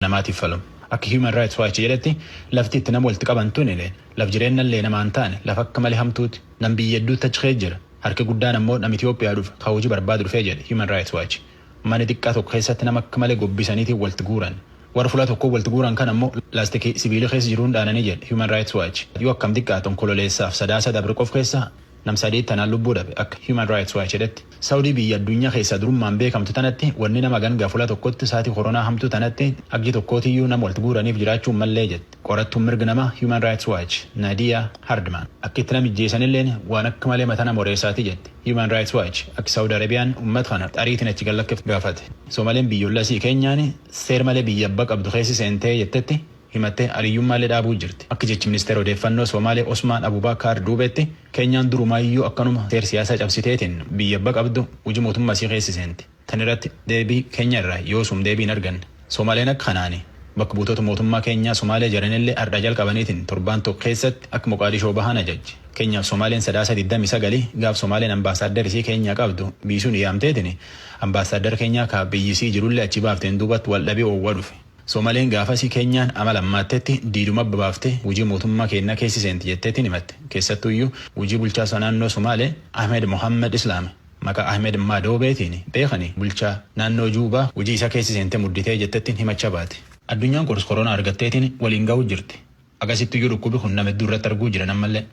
namaatiif falamu. Akka Human Rights Watch jedhetti, lafti itti nama walitti qaban tunile laf jireennallee namaa hin taane, lafa akka malee hamtuuti. Nam biyya hedduutti achi keessa jira. Harki guddaan ammoo nama Itoophiyaa dhufe ka hujii barbaadu dhufe jedhe Human Rights Watch. Mana diqqaa tokko keessatti nama akka malee gobbisaniitiin walitti guuran. Warra fula tokkoo walitti guuran kana ammoo laastikii sibiilii keessa jiruun dhaananii jedhe Human Rights Watch. Yoo akkam diqqaate Onkololeessaaf Sadaasa dabre qof keessa nam sadii tanaan lubbuu dhabe akka Human Rights Watch jedhetti. Saudi biyya addunya keessa durummaan beekamtu tanatti wanni nama gangaa fula tokkotti saati koronaa hamtuu tanatti aggi tokkootiyyu nama walti guuraniif jiraachuu hin mallee jetti qorattuun mirg namaa Human Rights Watch Nadia Hardman. Akki itti nama ijjeesanilleen waan akka malee mata nama oreessaati jetti Human Rights Watch akki Saudi Arabiyaan ummat kana ariitiin achi gad lakkiftu gaafate. Somaleen biyyolla isii Kenyaan seer malee biyya abba qabdu keessi seentee jettetti himattee aliyyummaallee dhaabuu jirti. Akka jechi Ministeera Odeeffannoo Soomaalee Osmaan Abubaakaar Duubeetti, Keenyaan durumaayyuu akkanuma seer siyaasaa cabsiteetiin biyya abba qabdu hujii mootummaa isii keessa seenti. Tan irratti deebii Keenya irraa yoosum deebii hin arganne. Soomaaleen akka kanaani bakka buutoota mootummaa Keenyaa Somaalee jaranillee ardhaa jalqabaniitiin torbaan tokko keessatti akka Moqaadishoo bahan ajajje. Keenyaaf Somaaleen Sadaasa digdamii sagal gaaf Somaaleen Ambaasaaddar isii Keenyaa qabdu biisuun yaamteetiin Ambaasaaddar Keenyaa ka biyyi isii jirullee achi baafteen duubatti waldhabii oowwa dhufe. Somaleen gaafasii Keenyaan amala ammaattetti diiduma abba baaftee hujii mootummaa keennaa keessi seenti jetteetiin himatte. Keessattuuyyuu hujii bulchaasaa naannoo Somaalee Ahmed Mohammed Islaam maqaa Ahmed Madoobeetiin beekani bulchaa naannoo Juubaa hujii isaa keessi seentee mudditee jettettiin himacha baate. Addunyaan kors koronaa argatteetiin waliin gahuu jirti. Agasittiyyuu dhukkubi kun nama hedduu irratti arguu jiran ammallee.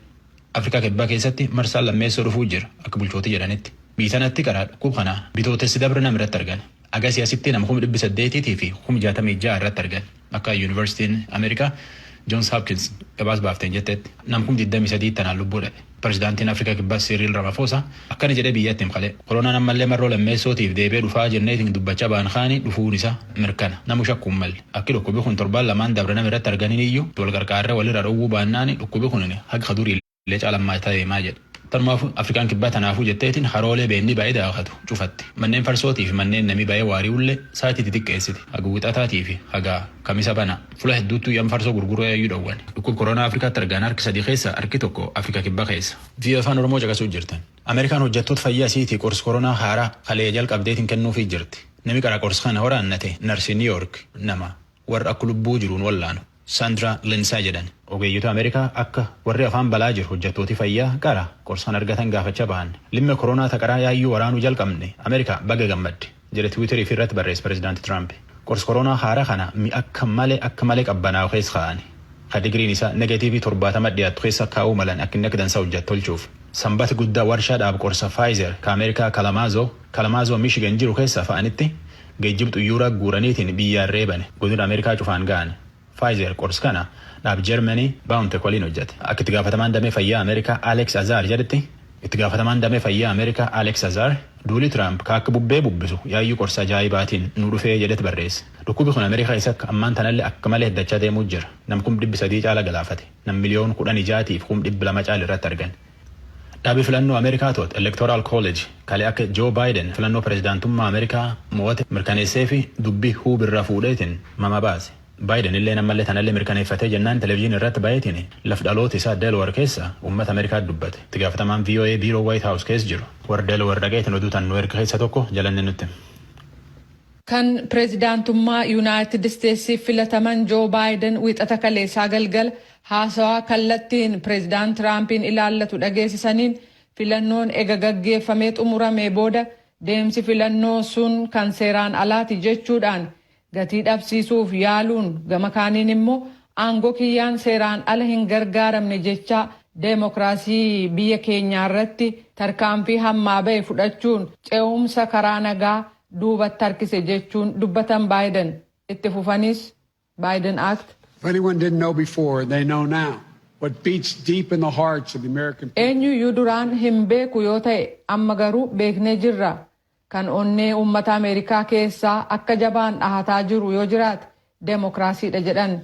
Afrikaa Kibbaa keessatti marsaan lammeessoo dhufuu jira akka bulchootii jedhanitti. Biyyi tanatti qara dhukkub kana Bitootessi dabre nama irratti argan. Agasii asitti nama kum dhibbi saddeetiitii fi kum jaatamii ja'a irratti argan akka Yuunivarsitiin Ameerikaa Johns Hopkins gabaas baafteen jettetti. Nam kum diddamii sadiitti tanaan lubbuu dhabe. Prezidaantiin Afrika Kibbaa Siiriil Ramafoosa akkana jedhee biyyatti him kale, Koronaan ammallee marroo lammeessootiif deebi'ee dhufaa jenneetiin dubbachaa baan kaani dhufuun isaa mirkana, namu shakkuu hin malle. Akki dhukkubi kun torbaan lamaan dabre nama irratti arganiniyyuu itti wal qarqaarree wal irraa dhowwuu baannaani dhukkubi kunini haga ka durii illee caala hammaataa deemaa jedhe. Tanumaafuu Afrikaan Kibbaa tanaafuu jetteetiin karoolee beennii ba'ee daakatu cufatte. Manneen farsootii fi manneen namii ba'ee waari'ullee saatii titiqqeessite. Haga Wixataatii fi haga Kamisa banaa. Fula hedduuttuu yam farsoo gurguruu yaayyuu dhowwan. Dhukkub koroonaa Afrikaatti argaan harki sadii keessa harki tokko Afrika Kibbaa keessa. Vio Afaan Oromoo caqasuu jirtan. Ameerikaan hojjattoota fayyaa isiitii qors koronaa haaraa kaleya jalqabdeetiin kennuufii jirti. Nami qara qors kana waraannate narsi New York nama warra akka lubbuu jiruun wallaanu Sandra Lindsay jedhan. Ogeeyyota Ameerikaa akka warri afaan balaa jiru hojjattooti fayyaa qara qors kana argatan gaafacha bahan. Limme koronaa ta qaraa yaayyuu waraanuu jalqabne Ameerikaa baga gammadde. jedhe Twitter ifii irratti barreesse Pirezidaanti Tiraamp. Qorsi koroonaa haaraa kana mi'a akka malee akka malee qabbanaa'u keessa kaa'ani. Ka digriin isaa negatiivii torbaatama dhiyaattu keessa kaa'uu malan akka inni akka dansaa hojjatu tolchuuf. Sanbati guddaa warshaa dhaab qorsa Pfizer ka Ameerikaa Kalamazoo, Kalamazoo Michigan jiru keessaa fa'anitti geejjiba xuyyuuraa guuraniitiin biyyaa reebani. Godina Ameerikaa cufaan ga'ani. Pfizer qorsi kana dhaab Germany BioNTech waliin hojjate. Akka itti gaafatamaan damee fayyaa Ameerikaa Alex Azar jedhetti, Itti gaafatamaan damee fayyaa Ameerikaa Alex Azar, duulii Trump ka akka bubbee bubbisu yaayyuu qorsa ajaa'ibaatiin nu dhufee jedhet barreesse. Dhukkubi kun Ameerikaa keessatti ammaan tanalle akka malee heddachaa deemuu jira. Nam kum dhibbi sadii caala galaafate. Nam miliyoon kudhanii ja'atii fi kum dhibbi lama caal irratti argan. Dhabi filannoo Amerikaa to'atu Electoral College kalee akka Joe Biden filannoo pirezidaantummaa Amerikaa moo'ate mirkaneesseefi dubbi huub irraa fuudheetiin mama baase. Biden illeen ammallee tanallee mirkaneeffatee jennaan television irratti bayeetiin laf dhaloota isaa Delaware keessa ummata Amerikaatti dubbate. Itti gaafatamaan voa biiroo White House keessa jiru. Warri Delaware dhaqeetiin oduu tan nu erge keessa tokko Jalanneen nutti hime. Kan pirezidaantummaa Yunaayitid Isteetsiif filataman Joe Biden wiixata kaleessaa galgala Haasawaa kallattiin Pireezidaant Tiraampiin ilaallatu dhageesisaniin, filannoon ega gaggeeffamee xumuramee booda deemsi filannoo sun kan seeraan alaati jechuudhaan gatii dhabsiisuuf yaaluun gama kaaniin immoo aangoo kiyyaan seeraan ala hin gargaaramne jechaa deemokiraasii biyya keenyaa irratti tarkaanfii hammaa bahe fudhachuun ce'umsa karaa nagaa duubatti harkise jechuun dubbatan Baayiden. Itti fufaniis. Biden Act. If anyone didn't know before, they know now what beats deep in the hearts of the American people. Eenyuyyuu duraan hin beeku yoo ta'e amma garuu beeknee jirra. Kan onnee uummata Ameerikaa keessaa akka jabaan dhahataa jiru yoo jiraate demokraasiidha jedhan.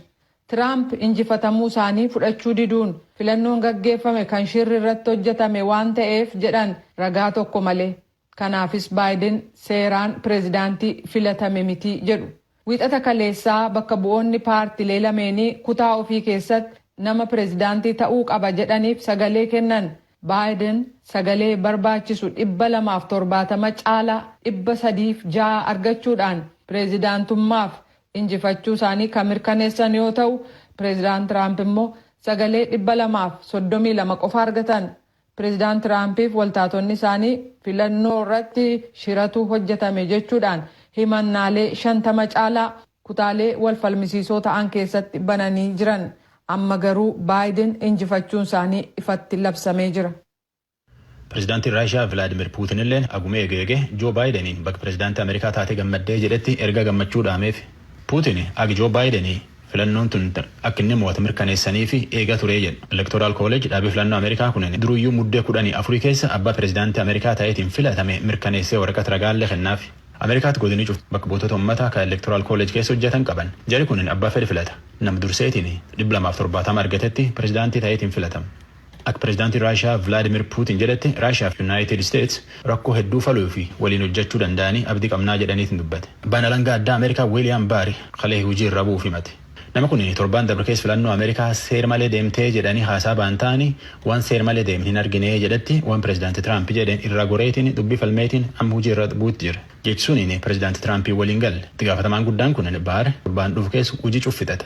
Tiraamp injifatamuu isaanii fudhachuu diduun filannoon gaggeeffame kan shirri irratti hojjetame waan ta'eef jedhan ragaa tokko malee. Kanaafis Baayiden seeraan pirezidaantii filatame miti jedhu. Wiixata kaleessaa bakka bu'oonni paartilee lameenii kutaa ofii keessatti nama pirezidaantii ta'uu qaba jedhaniif sagalee kennan. Baayiden sagalee barbaachisu 270 caalaa 306 argachuudhaan pirezidaantummaaf injifachuu isaanii kan mirkaneessan yoo ta'u, Pirezidaant Tiraamp immoo sagalee 232 qofa argatan. Pireezidaant Tiraampiif waltaatonni isaanii filannoo irratti shiratu hojjetame jechuudhaan himannaalee 50 caalaa kutaalee wal falmisiisoo ta'an keessatti bananii jiran. Amma garuu Baayiden injifachuun isaanii ifatti labsamee jira. Pireezidaantiin Raashiyaa Vilaadmiir Puutinilleen aguma eege eege Joo Baayideniin baga pireezidaantii Ameerikaa taate gammaddee jedhetti ergaa gammachuu dhaameef. Puutin agi Joo Baayideni Filannoon tun akka inni moo'ate mirkaneessaniif eegaa ture jedha. Electoral College, dhaabii filannoo Amerikaa kunin duruyyuu Muddee kudhanii afurii keessa abbaa pirezidaantii Amerikaa ta'eetiin filatame mirkaneessee waraqat ragaallee kennaafi. Amerikaatti godinii cufti bakka buutota ummataa ka Electoral College keessa hojjatan qaban. Jari kunin abbaa fedhe filata. Nama durseetiin dhibba lamaa fi torbaatama argatetti pirezidaantii ta'eetiin filatama. Akka Pirezidaantiin Raashiyaa Vilaadimiir Puutin jedhetti Raashiyaa fi Yunaayitid Isteets rakkoo hedduu faluu fi waliin hojjachuu danda'anii abdii qabnaa jedhaniitin dubbate. Abbaan Alangaa Addaa Ameerikaa Wiiliyaam Baari kalee hujii irraa bu'uuf himate. Nama kun torbaan dabre keessa filannoo Ameerikaa seer malee deemtee jedhanii haasaa bahan ta'anii waan seer malee deeme hin arginee jedhetti waan Pirezidaanti Tiraampi jedheen irraa goreetiin dubbii falmeetiin amma hujii irra bu'uutti jira. Jechi suniin Pirezidaanti Tiraampiin waliin galle. Itti gaafatamaan guddaan kun Baar torbaan dhufu keessa hujii cuf fixata.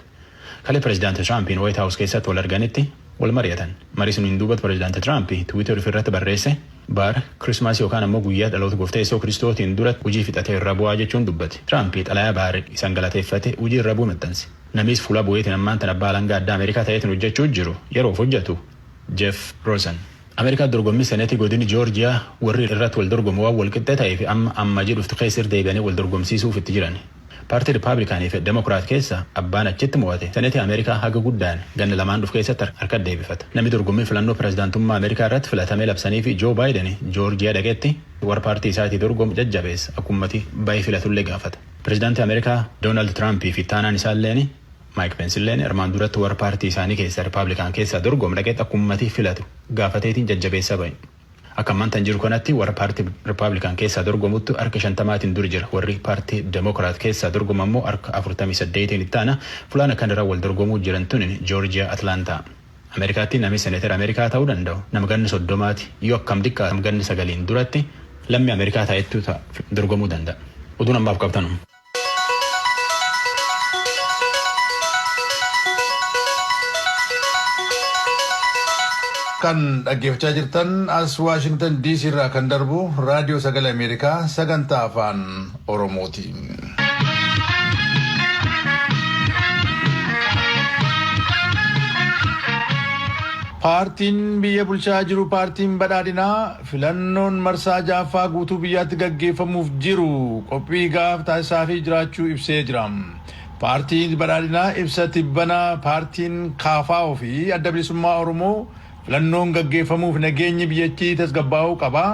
Kalee Pirezidaanti Tiraampiin Waayit Haawus keessatti wal arganitti wal mari'atan. Marii suniin duubatti Pirezidaanti Tiraampi Twitter ufi irratti barreesse, Baar Kirismaasii yookaan ammoo guyyaa dhaloota Gooftaa Yeesoo Kiristootiin duratti hujii fixatee irra bu'aa jechuun dubbate. Tiraampi xalayaa Baar isaan galateeffate hujii irra bu'u maxxanse. Namii is fuula bu'eetiin ammaan tana Abbaa Alangaa Addaa Ameerikaa ta'eetiin hojjachuu jiru, yeroof hojjatu Jeef Roosan. Ameerikaan dorgommii Seneetii godini Joorjiyaa warri irratti wal dorgomu waan wal qixxee ta'eef amma Ammajii dhuftu keessa irra deebi'anii wal dorgomsiisuuf itti jiran. Paartii Rippaablikaanii fi Demokiraat keessa abbaan achitti mo'ate Seneetii Ameerikaa haga guddaan ganna lamaan dhufu keessatti harkatti deebifata. Nami dorgommii filannoo pirezidaantummaa Ameerikaa irratti filatamee labsaniifi Joo Baayiden Joorjiyaa dhaqetti warra paartii isaatii dorgomu jajjabeessa akka ummati bahee filatullee gaafata. Pirezidaantii Ameerikaa Doonaald Tiraampii fi ittaanaan isaalleen, Maayik Pensilleen armaan duratti warra paartii isaanii keessaa Ripaablikaan keessaa dorgomu dhaqeetti akka ummati filatu gaafateetiin jajjabeessaa bahe. Akka ammaan tan jiru kanatti warra paartii Ripaablikaan keessaa dorgomuttu harka shantamaatiin dur jira. Warri paartii Demokiraat keessaa dorgomu ammoo harka afurtamii saddeetiin itti aana. Fulaan akkan irra wal dorgomuu jiran tunin Joorjiyaa Atlaantaa. Ameerikaatti nami Seneetera Ameerikaa ta'uu danda'u nama ganna soddomaati. Yoo akkam diqqaate ganna sagaliin duratti lammii Ameerikaa ta'etu dorgomuu danda'a. Oduun ammaaf qab tanuma. Kan dhaggeeffachaa jirtan as Waashingtan DC irraa kan darbu Raadiyoo Sagalee Ameerikaa sagantaa afaan Oromooti. Paartiin biyya bulchaa jiru paartiin badhaadhinaa Filannoon marsaa 6ffaa guutuu biyyaatti gaggeeffamuuf jiru qophii gahaaf taasisaafii jiraachuu ibsee jira. Paartiin Badhaadhinaa ibsa tibbana paartiin kfo fi Adda Bilisummaa Oromoo filannoon gaggeeffamuuf nageenyi biyyattii tasgabbaa'uu qaba,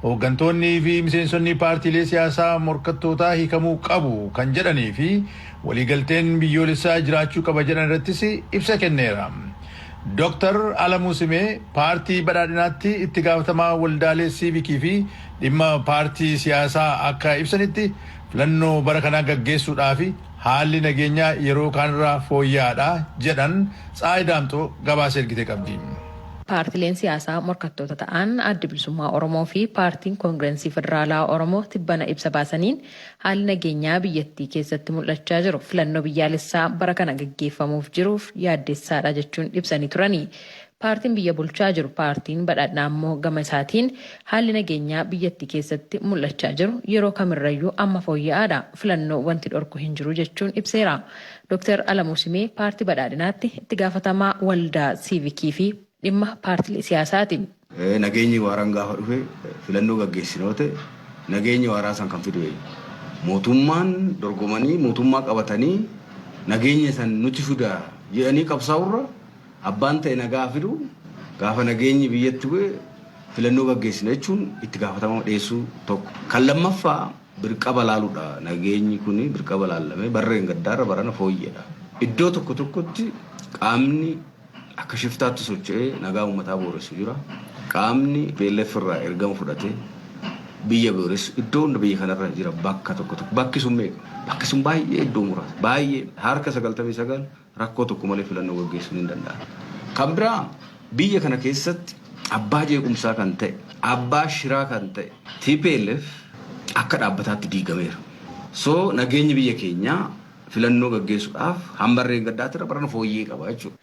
hooggantoonnii fi miseensonni paartiilee siyaasaa morkattootaa hiikamuu qabu kan jedhanii fi waliigalteen biyyoolessaa jiraachuu qaba jedhan irrattis ibsa kenneera. Doktar Alamuu Simee paartii Badhaadhinaatti itti gaafatamaa waldaalee siivikii fi dhimma paartii siyaasaa akka ibsanitti, filannoo bara kanaa gaggeessuudhaafi haalli nageenyaa yeroo kaanirraa fooyya'aadha jedhan Tsahaay Daamxoo gabaasa ergite qabdi. Paartileen siyaasaa morkattoota ta'an Addi Bilisummaa Oromoo fi Paartiin Kongirensii Federaalaa Oromoo tibbana ibsa baasaniin Haalli nageenyaa biyyattii keessatti mul'achaa jiru filannoo biyyaalessaa bara kana gaggeeffamuuf jiruuf yaaddessaadha jechuun ibsanii turani. Paartiin biyya bulchaa jiru Paartiin Badhaadhnaa ammoo gama isaatiin haalli nageenyaa biyyattii keessatti mul'achaa jiru yeroo kamirrayyuu amma fooyya'aadha, filannoo wanti dhorku hin jiru jechuun ibseera. Doktar Alamuu Simee Paartii Badhaadhinaatti itti gaafatamaa waldaa siivikii fi Dhimma paartilee siyaasaa ti. Nageenyi waaraan gaafa dhufe filannoo gaggeessina yoo ta'e nageenya waaraa san kan fidu eenyu? Mootummaan dorgomanii mootummaa qabatanii nageenya san nuti fida jedhanii qabsaa'urra abbaan ta'e nagaa haa fidu gaafa nageenyi biyyatti bu'e filannoo gaggeessina jechuun itti gaafatama dhiyeessuu tokko. Kan lammaffaa birqaba laaludha. Nageenyi kun birqaba laallamee barreen gaddaarra barana fooyyedha. Iddoo tokko tokkotti qaamni. akka shiftaatti socho'ee nagaa uummataa booressu jira. Qaamni PLF irraa ergama fudhatee biyya booressu iddoo hunda biyya kanarra jira bakka tokko tokko bakki sun meeqa bakki sun baay'ee iddoo muraasa baay'ee harka sagaltamii sagal rakkoo tokko malee filannoo gaggeessuun hin danda'amu. Kan biraa biyya kana keessatti abbaa jeequmsaa kan ta'e abbaa shiraa kan ta'e TPLF akka dhaabbataatti diigameera. So nageenyi biyya keenyaa filannoo gaggeessuudhaaf hamma reengaddaatti irra barana fooyyee qaba jechuudha.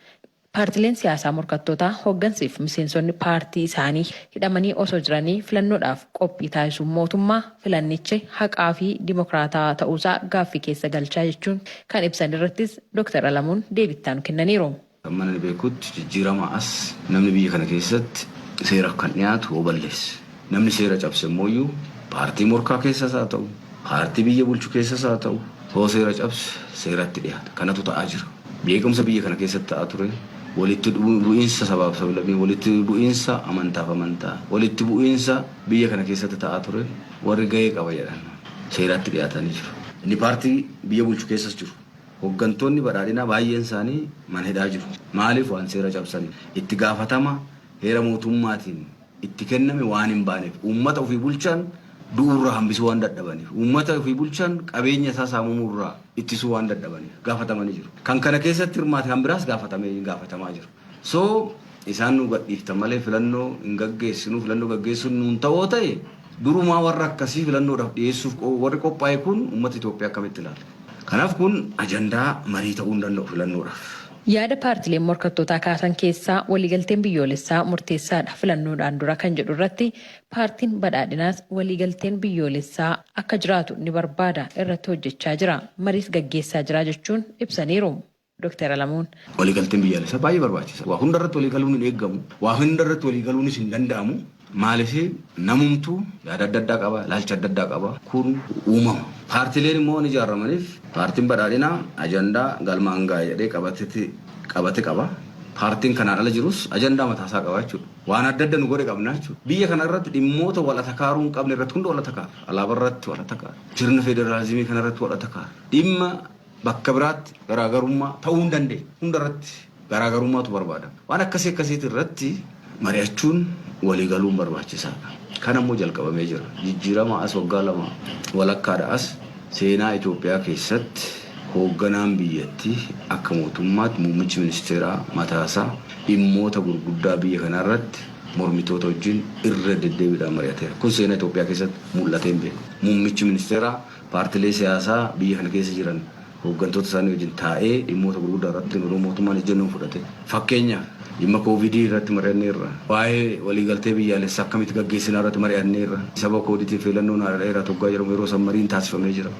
Paartileen siyaasaa morkattootaa hoggansi fi miseensonni paartii isaanii hidhamanii osoo jiranii filannoodhaaf qophii taasisuun mootummaa filannichi haqaa fi dimokraatawaa ta'uusaa gaaffii keessa galcha jechuun kan ibsan irrattis Doktar Alamuun deebii itti aanu kennaniiru. Hamman ani beekutti jijjiiramaa as namni biyya kana keessatti seeraf kan dhiyaatu yoo balleesse. Namni seera cabse immooyyuu paartii morkaa keessas haa ta'u, paartii biyya bulchu keessas haa ta'u yoo seera cabse seeratti dhiyaata. Kanatu ta'aa jira. Jeequmsa biyya kana keessatti ta'aa ture walitti bu'iinsa sabaaf sablammii, walitti bu'iinsa amantaaf amantaa, walitti bu'iinsa biyya kana keessatti ta'aa ture warri gahee qaba jedhan seeratti dhiyaatanii jiru. Inni paartii biyya bulchu keessas jiru. Hoggantoonni Badhaadhinaa baay'een isaanii mana hidhaa jiru. Maaliif? Waan seera cabsaniif. Itti gaafatama heera mootummaatiin itti kenname waan hin baaneef. Uummata ofii bulchan du'uurraa hambisuu waan dadhabaniif. Uummata ofii bulchan qabeenya isaa saamamuurraa ittisuu waan dadhabaniif. Gaafatamanii jiru. Kan kana keessatti hirmaate kan biraas gaafatamee, gaafatamaa jira. So isaan nuu gadhiiftan malee filannoo hin gaggeessinu, filannoo gaggeessuun nuun ta'oo ta'e durumaa warra akkasii filannoodhaf dhiyeessuuf warri qophaa'e kun ummata Itoophiyaa akkamitti ilaala? Kanaaf kun ajandaa marii ta'uu hin danda'u filannoodhaf. Yaada paartileen morkattootaa kaasan keessaa waliigalteen biyyoolessaa murteessaadha filannoodhaan dura kan jedhu irratti paartiin Badhaadhinaas waliigalteen biyyoolessaa akka jiraatu ni barbaada, irratti hojjechaa jira, mariis gaggeessaa jira jechuun ibsaniiru. Doktar Alamuun. Waliigalteen biyyaalessaa baay'ee barbaachisa. Waa hundarratti waliigaluun hin eegamu. Waa hundarratti waliigaluunis hin danda'amu. Maaliif namumtuu yaada adda addaa qaba, ilaalcha adda addaa qaba. Kun uumama. Paartileen immoo waan ijaaramaniif paartiin badhaadhinaa ajandaa galmaan ga'a jedhee qabatetti qabate qaba. Paartiin kanaan ala jirus ajandaa mataasaa qaba jechuudha. Waan adda adda nu godhe qabna jechuudha. Biyya kanarratti dhimmoota wal atakaaruu hin qabne irratti hunda wal atakaarra. Alaabarratti wal atakaarra. Sirna federaalizimii kanarratti wal atakaarra. Dhimma bakka biraatti garaagarummaa ta'uu hin dandeenye hundarratti garaagarummaatu barbaadama. Waan akkasii akkasiiti irratti mari'achuun walii galuun barbaachisaadha. Kan ammoo jalqabamee jira. Jijjiirama as waggaa lama walakkaadha as seenaa Itoophiyaa keessatti hoogganaan biyyatti akka mootummaatti muummichi ministeeraa mataasaa dhimmoota gurguddaa biyya kanaa irratti mormitoota wajjin irra deddeebiidhaan mari'ateera. Kun seenaa Itoophiyaa keessatti mul'atee hin beeku. Muummichi ministeeraa Paartilee siyaasaa biyya kana keessa jiran hooggantoota isaanii wajjin taa'ee dhimmoota gurguddaa irratti yeroo mootummaan ejjennoo fudhate fakkeenyaaf dhimma koovidii irratti mari'anneerra. Waa'ee waliigaltee biyyaalessaa akkamitti gaggeessinaa irratti mari'anneerra. Sababa koodiitiif filannoon haara'eera toggaa jedhamu yeroo san mariin taasifamee jira.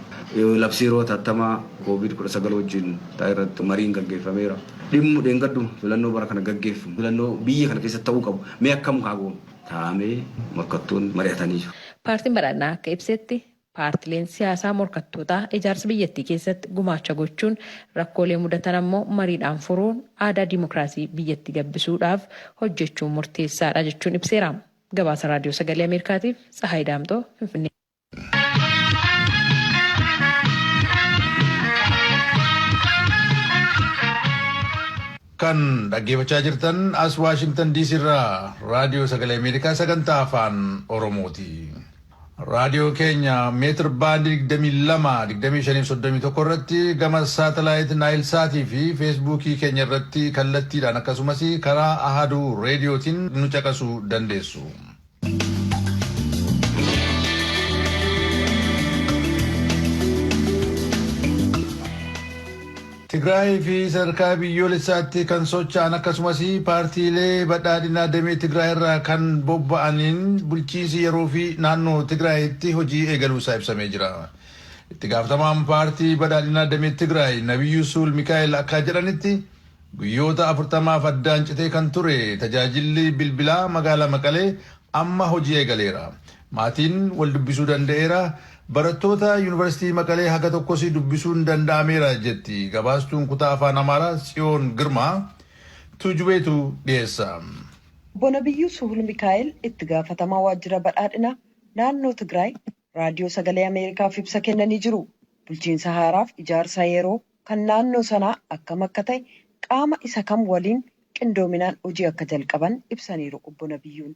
Labsii yeroo hatattamaa koovid 19 wajjin taa'e irratti mariin gaggeeffameera. Dhimmu dheengadduma filannoo bara kana gaggeeffamu filannoo biyya kana keessatti ta'uu qabu mee akkam haa goonu? taa'amee morkattoonni mari'atanii jiru. Paartiin Badhaadhinaa akka ibsetti Paartileen siyaasaa morkattootaa ijaarsa biyyattii keessatti gumaacha gochuun rakkoolee mudatan ammoo mariidhaan furuun aadaa dimokiraasii biyyatti gabbisuudhaaf hojjechuun murteessaadha jechuun ibseera. Gabaasa Raadiyoo Sagalee Ameerikaatiif Tsahaay Daamxoo Finfinnee. Kan dhaggeeffachaa jirtan as Waashingtan DC irraa Raadiyoo Sagalee Ameerikaa sagantaa afaan Oromooti. Raadiyoo keenya meetir baandii 22, 25 fi 31 irratti gama saatalaayit Naayil Saatii fi Feesbuukii keenya irratti kallattiidhaan akkasumas karaa Ahaduu Reediyootiin nu caqasuu dandeessu. Tigraayii fi sadarkaa biyyoolessaatti kan socha'an akkasumas paartiilee badhaadhinaa damee Tigraay irraa kan bobba'aniin bulchiinsi yeroo fi naannoo Tigraayitti hojii eegaluu isaa ibsamee jira. Itti gaafatamaan paartii badhaadhinaa damee Tigraay Nabiyyuu Suul Mikaa'el akkaa jedhanitti guyyoota 40f addaan citee kan ture tajaajilli bilbilaa magaalaa Maqalee amma hojii eegaleera. Maatiin wal dubbisuu danda'eera, barattoota Yuunivarsiitii Maqalee haga tokkos dubbisuun danda'ameera jetti gabaastuun kutaa Afaan Amaaraa Tsiyoon Girmaa. Tuujubeetu dhiyeessa. Obbo Nabiyyuu Suhulmikaa'el itti gaafatamaa waajjira badhaadhinaa naannoo Tigraay Raadiyoo Sagalee Ameerikaaf ibsa kennanii jiru. Bulchiinsa haaraaf ijaarsa yeroo kan naannoo sanaa akkam akka ta'e, qaama isa kam waliin qindoominaan hojii akka jalqaban ibsaniiru Obbo Nabiyyuun.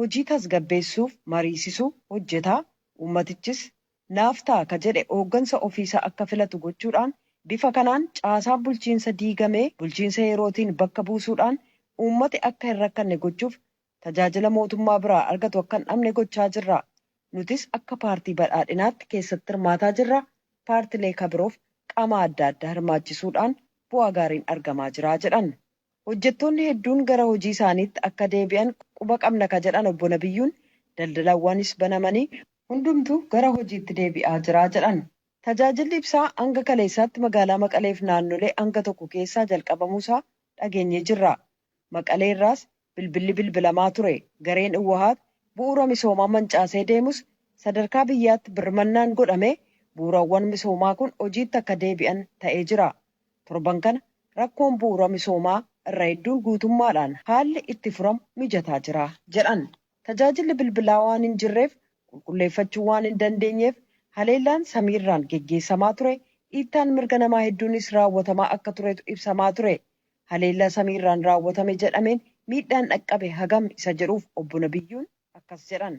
hojii tasgabbeessuuf mariisisu hojjeta, uummatichis naaf ta'a ka jedhe hooggansa ofiisaa akka filatu gochuudhaan bifa kanaan caasaan bulchiinsa diigamee bulchiinsa yerootiin bakka buusuudhaan uummati akka hin rakkanne gochuuf tajaajila mootummaa biraa argatu akka hin dhabne gochaa jirra. Nutis akka paartii Badhaadhinaatti keessatti hirmaataa jirra, paartilee ka biroof qaama adda addaa hirmaachisuudhaan bu'aa gaariin argamaa jira jedhan. Hojjettoonni hedduun gara hojii isaaniitti akka deebi'an quba qabna ka jedhan Obbo Nabiyyuun, daldalawwanis banamanii hundumtu gara hojiitti deebi'aa jira jedhan. Tajaajilli ibsaa hanga kaleessaatti magaalaa Maqaleef naannolee hanga tokko keessaa jalqabamuu isaa dhageenyee jirra. Maqalee irraas bilbilli bilbilamaa ture. Gareen Iwwahaat bu'uura misoomaa mancaasee deemus sadarkaa biyyaatti birmannaan godhamee bu'uurawwan misoomaa kun hojiitti akka deebi'an ta'ee jira. Torban kana rakkoon bu'uura misoomaa irra hedduun guutummaadhaan haalli itti furamu mijataa jira jedhan. Tajaajilli bilbilaa waan hin jirreef qulqulleeffachuu waan hin dandeenyeef haleellaan samiirraan geggeessamaa ture, dhiittaan mirga namaa hedduunis raawwatamaa akka turetu ibsamaa ture. Haleellaa samiirraan raawwatame jedhameen miidhaan dhaqqabe hagam isa jedhuuf Obbo Nabiyyuun akkas jedhan.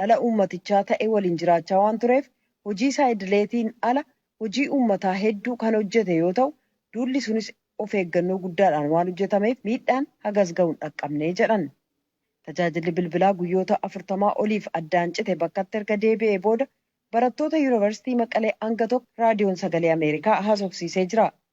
dhala uummatichaa ta'e waliin jiraachaa waan tureef hojii isaa idileetiin ala hojii uummataa hedduu kan hojjete yoo ta'u, duulli sunis of eeggannoo guddaadhaan waan hojjetameef miidhaan hagas gahu hin dhaqqabne jedhan. Tajaajilli bilbilaa guyyoota 40 oliif addaan cite bakkatti erga deebi'ee booda barattoota Yuunivarsiitii Maqalee hanga tokko Raadiyoon Sagalee Ameerikaa haasofsiisee jira.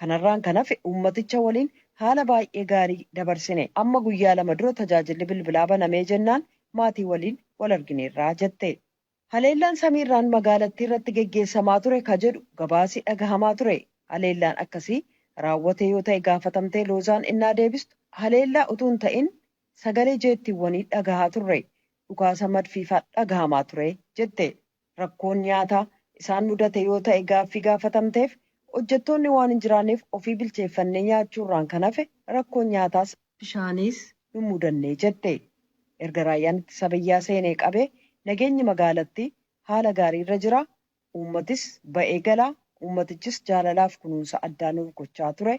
Kanarraan kan hafe uummaticha waliin haala baay'ee gaarii dabarsine. Amma guyyaa lama dura tajaajilli bilbilaa banamee jennaan maatii waliin wal argineerra, jette. Haleellaan samiirraan magaalattiirratti geggeessamaa ture ka jedhu gabaasi dhagahamaa ture. Haleellaan akkasii raawwate yoo ta'e gaafatamtee Loozaan ennaa deebistu, haleellaa utuu hin ta'in sagalee jeettiiwwanii dhagahaa turre. Dhukaasa madfiifaa dhagahamaa ture, jette. Rakkoon nyaataa isaan mudate yoo ta'e gaaffii gaafatamteef, hojjettoonni waan hin jiraanneef ofii bilcheeffannee nyaachuurraan kan hafe rakkoon nyaataas, bishaaniis nun mudanne jette. Erga Raayyaan Ittisa Biyyaa seenee qabee nageenyi magaalattii haala gaariirra jira, uummatis ba'ee gala, uummatichis jaalalaaf kunuunsa addaa nuuf gochaa ture,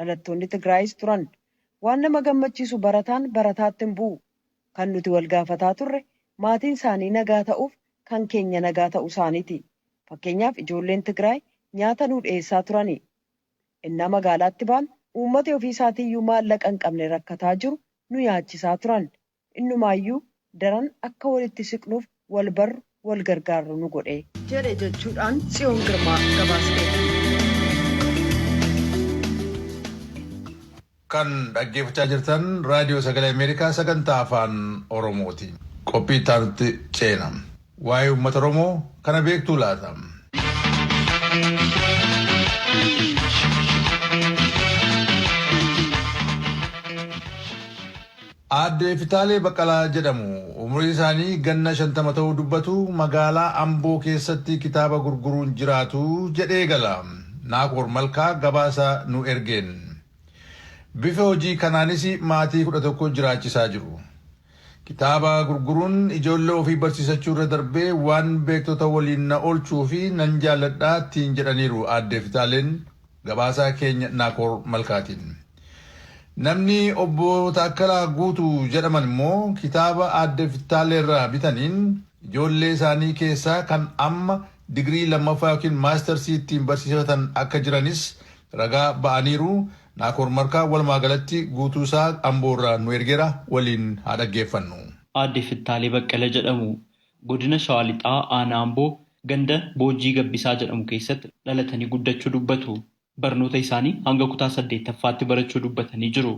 Dhalattoonni Tigraayis turan. Waan nama gammachiisu barataan barataatti hin bu'u. Kan nuti wal gaafataa turre maatiin isaanii nagaa ta'uuf kan keenya nagaa ta'uu isaaniiti. Fakkeenyaaf ijoolleen Tigraay nyaata nuu dhiyeessaa turani. Ennaa magaalaatti baanu uummati ofii isaatiiyyuu maallaqa hin qabne rakkataa jiru nu nyaachisaa turan. Innumaayyuu daran akka walitti siqnuuf wal barru, wal gargaarru nu godhe. jedhe jechuudhaan Tsiyoon Girmaa gabaasteetti. Kan dhaggeeffachaa jirtan Raadiyoo Sagalee Ameerikaa sagantaa Afaan Oromooti. Qophii itti aanutti ceena. Waa'ee uummata Oromoo kana beektuu laata? Aadde Fitaalee Baqqalaa jedhamu. Umrii isaanii ganna shantama ta'uu dubbatu. Magaalaa Amboo keessatti kitaaba gurguruun jiraatu jedhee eegala. Naakoor Malkaa gabaasa nu ergeen. Bifa hojii kanaanis maatii kudha tokko jiraachisaa jiru. Kitaaba gurguruun ijoollee ofii barsiisachuu irra darbee waan beektota waliin na oolchuu fi nan jaalladha ittiin jedhaniiru Aadde Fitaaleen gabaasaa keenya Naakoor Malkaatiin. Namni obbo Taakkalaa Guutuu jedhaman immoo kitaaba Aadde Fitaaleerraa bitaniin ijoollee isaanii keessaa kan amma digirii lammaffaa yookiin maastarsii ittiin barsiisifatan akka jiranis ragaa ba'aniiru. Naakoor Markaa walumaa galatti guutuu isaa Amboo irraa nu ergeera waliin haa dhaggeeffannu. Aadde Fittaalee Baqqala jedhamu. Godina Shawaa Lixaa Aanaa Amboo ganda Boojjii Gabbisaa jedhamu keessatti dhalatanii guddachuu dubbatu. Barnoota isaanii hanga kutaa 8ffaatti barachuu dubbatanii jiru.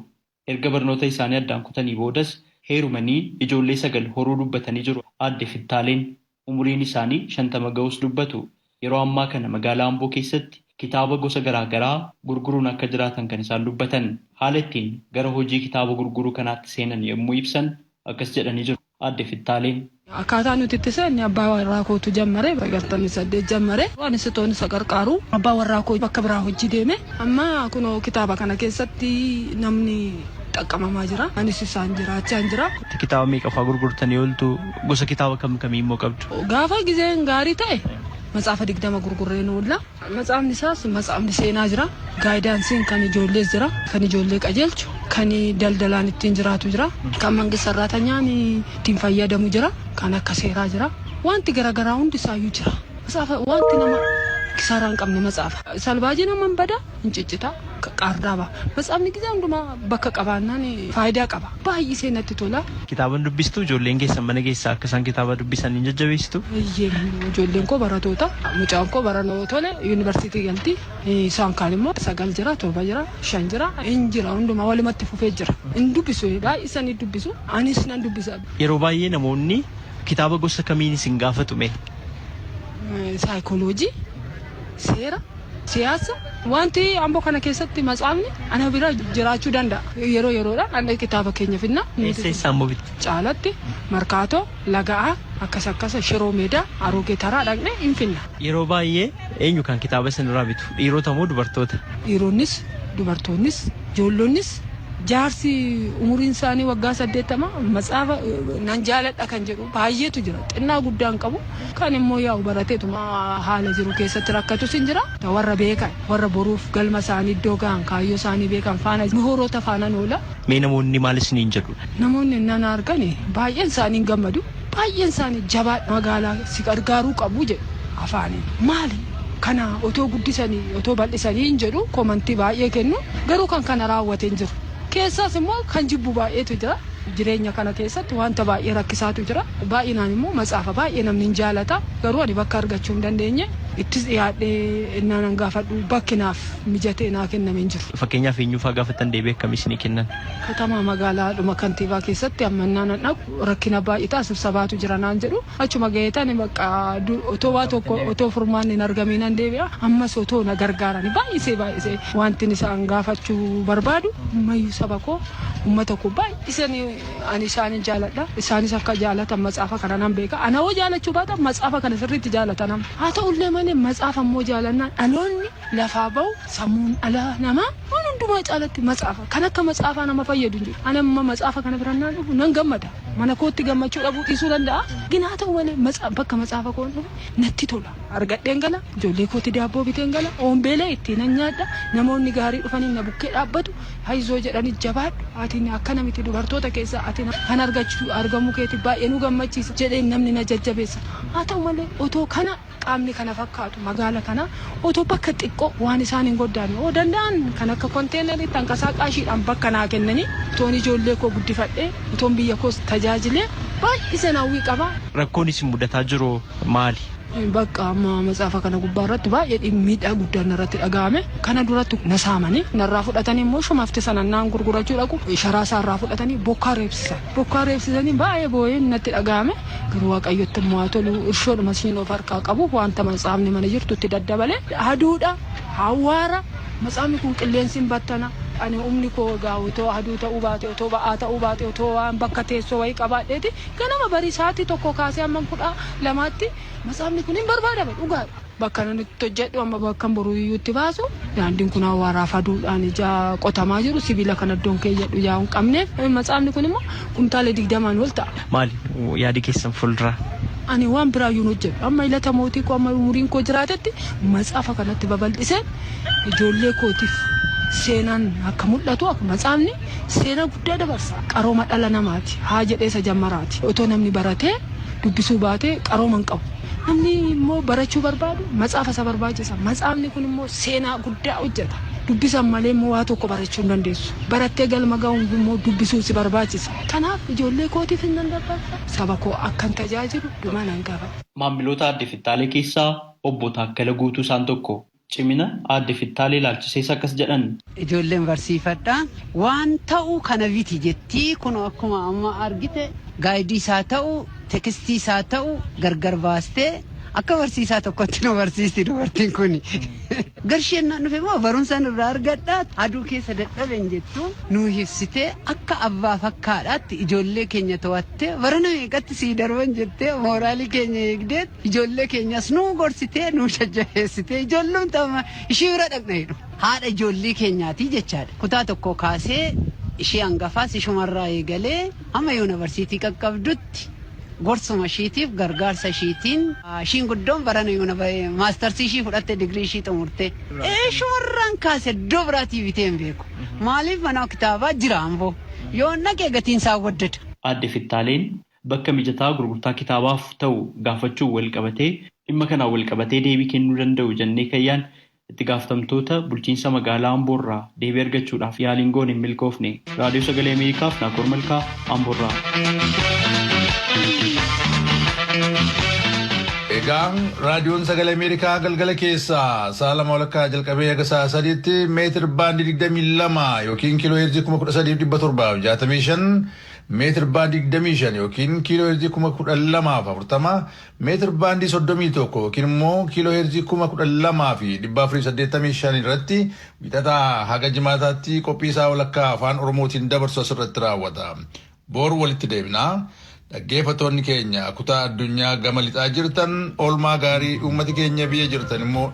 Erga barnoota isaanii addaan kutanii boodas heerumanii ijoollee sagal horuu dubbatanii jiru Aadde Fittaaleen. Umuriin isaanii shantama ga'uus dubbatu. Yeroo ammaa kana magaalaa Amboo keessatti kitaaba gosa garaa garaa gurguruun akka jiraatan kan isaan dubbatan. Haala ittiin gara hojii kitaaba gurguruu kanaatti seenan yommuu ibsan akkas jedhanii jiru. Aadde Fittaaleen. Akkaataa nuti itti seenne abbaa warraa kootu jammare bara 68 jammare. Anis utoon isa qarqaaruu abbaa warraa koo bakka biraa hojii deeme. Amma kunoo kitaaba kana keessatti namni xaqqamamaa jira. Anis isaan jiraachaan jira. Kitaaba meeqa faa gurgurtanii ooltu? Gosa kitaaba kam kamii immoo qabdu? Gaafa gizeen gaarii ta'e matsaafa 20 gurgurreen oolla. Matsaafni isaas matsaafni seenaa jira. Gaayidaansiin kan ijoollees jira. Kan ijoollee qajeelchu, kan daldalaan ittiin jiraatu jira. Kan mangist sarraatanyaan ittiin fayyadamu jira. Kan akka seeraa jira. Waanti garagaraa hundi isaayyuu jira. Matsaafa waanti nama kisaaraa hin qabne matsaafa. Salbaajiin amma hin bada, hin ciccita, qaardaa baha. Matsaafni gizee hundumaa bakka qabaannaan faayidaa qaba. baay'isee natti tola. Kitaaba hin dubbistuu? Ijoolleen keessan mana keessaa akka isaan kitaaba dubbisan hin jajjabeessituu? Eeyyeen, ijoolleen koo baratoota. Mucaan koo bara noo tole yuunivarsiitii galti. Isaan kaan immoo sagal jira, torba jira, shan jira, hin jira hundumaa walumatti fufee jira. Hin dubbisu baay'isanii dubbisu. Anis nan dubbisa. Yeroo baay'ee namoonni kitaaba gosa kamiin isin gaafatu mee? Saayikooloojii. seera, siyaasa, wanti Amboo kana keessatti matsaafni ana bira jiraachuu danda'a. Yeroo yeroodhaan anna kitaaba keenya fidna. Eessa eessa ammoo bitta? Caalatti, Markaatoo, Laga'aa, akkas akkasa Shiroo Meedaa, Aroogee Taraa dhaqnee hin fidna. Yeroo baay'ee eenyu kan kitaaba isinirraa bitu? Dhiirota moo dubartoota? Dhiironnis, dubartoonnis, joollonnis, jaarsi umuriin isaanii waggaa 80 matsaafa nan jaaladha kan jedhu. baay'eetu jira. Xinnaa guddaa hin qabu. Kan immoo yaa'u barateetuma haala jiru keessatti rakkatus hin jira. Warra beekan, warra boruuf galma isaanii iddoo gahan, kaayyoo isaanii beekan faana, mihooroota faanan oola. Mee namoonni maal isiniin jedhu? Namoonni ennaa na argan baay'een isaanii hin gammadu. Baay'een isaanii jabaadhu, magaalaa si gargaaruu qabu jedhu afaaniin. Maali kana otoo guddisanii, otoo bal'isanii hin jedhu, komantii baay'ee kennu. Garuu kan kana raawwate hin jiru. Keessaas immoo kan jibbu baay'eetu jira. Jireenya kana keessatti wanta baay'ee rakkisaatu jira. Baay'inaan immoo macaafa baay'ee namni hin jaalata. Garuu ani bakka argachuu hin dandeenye ittis dhiyaadhee ennaa nan gaafadhu bakki naaf mijatee naa kenname hin jiru. Fakkeenyaaf eenyuufaa gaafattan deebii akkamii isinii kennan? Katamaa magaalaadhuma kantiibaa keessatti amma ennaa nan dhaqu rakkina baay'eetaa sibsabaatu jira naan jedhu. Achuma ga'eetani bakka otoo waa tokko otoo furmaanni hin argamii nan deebi'a. Ammas otoo na gargaarani baay'isee baay'isee wantin isaan gaafachuu barbaadu ammayyuu saba koo Ummata koo baay'iseen ani isaanin jaaladha. Isaanis akka jaalatan matsaafa kana nan beeka. Ana hoo jaalachuu baatan matsaafa kana sirriitti jaalata nama. Haa ta'ullee malee matsaafa immoo jaalannaan dhaloonni lafaa bahu sammuun dhala namaa waan hundumaa caalatti matsaafa. Kan akka matsaafaa nama fayyadu hin jiru. Ani amma matsaafa kana bira naan dhufu nan gammada. Mana kootti gammachuu dhabuu dhiisuu danda'a. Gin haa ta'u malee matsaa bakka matsaafa koon dhufe natti tola. Argadheen gala, ijoollee kootti daabboo biteen gala, oombeelee ittiinan nyaadha, namoonni gaarii dhufanii na bukkee dhaabbatu. Hayzoo jedhani jabaadhu ati akkana miti dubartoota keessaa ati na kan argachu argamuu keeti baay'ee nu gammachiisa jedheen namni na jajjabeessa haa ta'u malee otoo kana qaamni kana fakkaatu magaala kana otoo bakka xiqqoo waan isaan hin goddaanne oo danda'an kan akka konteenarii tankasaa qaashiidhaan bakka naa kennanii otoon ijoollee koo guddifadhee otoon biyya koos tajaajilee baay'iseen hawwii qaba. Rakkoon isin mudataa jiru maali? Bakka amma matsaafa kana gubbaa irratti baay'ee miidhaa guddaan narratti dhaga'ame. Kana duratti na saamanii narraa fudhatanii immoo shumafti sana naan gurgurachuu dhaqu sharaa isaa irraa fudhatanii bokkaa reebsisan. Bokkaa reebsisanii baay'ee boo'een natti dhaga'ame. Garuu Waaqayyotti immoo haa tolu irshoodhuma siin of harkaa qabu wanta matsaafni mana jirtutti daddabale aduudha awwaara matsaafni kun qilleensi hin battana ani humni koo egaa otoo aduu ta'uu baate otoo ba'aa ta'uu baate otoo waan bakka teessoo wayii qabaadheeti ganama barii sa'aatii tokko kaasee hamman kudha lamaatti masaafni kun hin barbaadama dhugaadha. Bakka nan itti hojjedhu amma bakkan boruu iyyuu itti baasu daandiin kun awwaaraaf aduudhaan ijaa qotamaa jiru sibiila kan addoon keeyyadhu yaa'u hin qabneef matsaafni kun immoo kumtaala digdamaan ol ta'a. Maali yaadi keessan fuulduraa? Ani waan biraa iyyuu hin hojjedhu amma ilata mootii koo amma umuriin koo jiraatetti matsaafa kanatti babal'isee ijoollee kootiif seenaan akka mul'atu akka matsaafni seenaa guddaa dabarsa qarooma dhala namaati haa jedhee isa jammaraati otoo namni baratee dubbisuu baate qarooma hin qabu. Namni immoo barachuu barbaadu matsaafa isa barbaachisa. Matsaafni kun immoo seenaa guddaa hojjeta. Dubbisan malee immoo waa tokko barachuu hin dandeessu. Barattee galma ga'uun immoo dubbisuu si barbaachisa. Kanaaf ijoollee kootiifis nan dabarsa, saba koo akkan tajaajilu dhuma nan qaba. Maamiloota Aadde Fittaalee keessaa Obbo Taakkala Guutuu isaan tokko. Cimina Aadde Fittaalee ilaalchisees akkas jedhan. Ijoolleen barsiifadha. Waan ta'u kana biti jetti. Kunoo akkuma amma argite gaaydiis haa ta'u, tekstiis haa ta'u gargar baastee akka barsiisaa tokkotti nu barsiisti dubartiin kuni. Garshee yennaan dhufe immoo barumsan irraa argadha, aduu keessa dadhabe hin jettu. Nuu ibsitee akka abbaaf akka haadhaatti ijoollee keenya to'attee barana meeqatti sii darban jettee mooraalii keenya eegdee Ijoollee keenyas nuu gorsitee, nuu jajjabeessitee, ijoollumti amma ishii bira dhaqna jedhu. Haadha ijoollee keenyaati jechaadha. Kutaa tokkoo kaasee ishii hangafaas ishumarraa eegalee hamma yuunivarsiitii qaqqabdutti gorsuma ishiitiif, gargaarsa ishiitiin, ishiin guddoon barana maastarsii ishii fudhatte, digirii ishii xumurte. Ishumarraan kaase iddoo biraatii bitee hin beeku. Maaliif manaa kitaabaa jira Amboo. Yoon dhaqe gatiin isaa waddada. Aadde Fittaaleen bakka mijataa gurgurtaa kitaabaaf ta'u gaafachuun walqabatee dhimma kanaan walqabatee deebii kennuu danda'u jennee kan yaadne itti gaafatamtoota bulchiinsa magaalaa Amboo irraa deebii argachuudhaaf yaaliin goone hin milkoofne. Raadiyoo Sagalee Ameerikaaf Naakoor Malkaa Amboo irraa. Egaa raadiyoon sagalee Ameerikaa galgala keessaa sa'a lama walakkaa jalqabee haga sa'a sadiitti meetir baandii 22 yookiin kiiloo heerzii 13765 meetir baandii 25 yookiin kiiloo heerzii 12040, meetir baandii 31 yookiin immoo kiiloo heerzii 12485 irratti wixataa haga jimaataatti qophii isaa walakkaa afaan Oromootiin dabarsu asirratti raawwata. Boor walitti deebina. Dhaggeeffattoonni keenya kutaa addunyaa gama lixaa jirtan oolmaa gaarii uummati keenya biyya jirtan immoo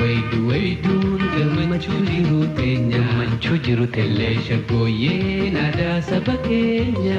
Waydu wayduun gammachuu jiru teenya. Gammachuu jiru teenya. Illee shaggooyyeen aadaa saba keenya.